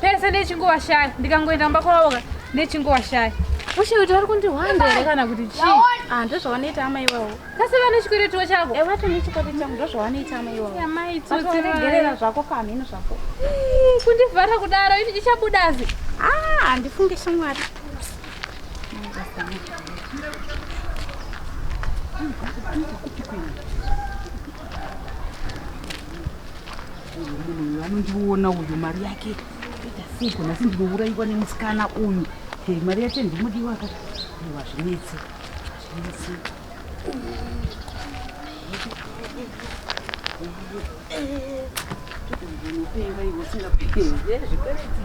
pese ndichingovashaya ndikangoenda mumba kwavoka ndichingovashaya ushe kuti vari kundihwanda here kana kuti chii ah, ndozvavanoita amai iwawo kasi vane chikweretiwo chako eh, vato nechikwete changu ndozvavanoita amai iwaworegerera zvako pamheno zvako kundivhara kudaro ini ichabudazi ah, handifunge shamwari Thank you. Munhu anondiona uyu mari yake ita siko nhasi ndinouraiwa nemusikana uyu mari yacho ndimudiwa ka iwa zvinetse zvinetse unopenga iwe usingapike zvikwereti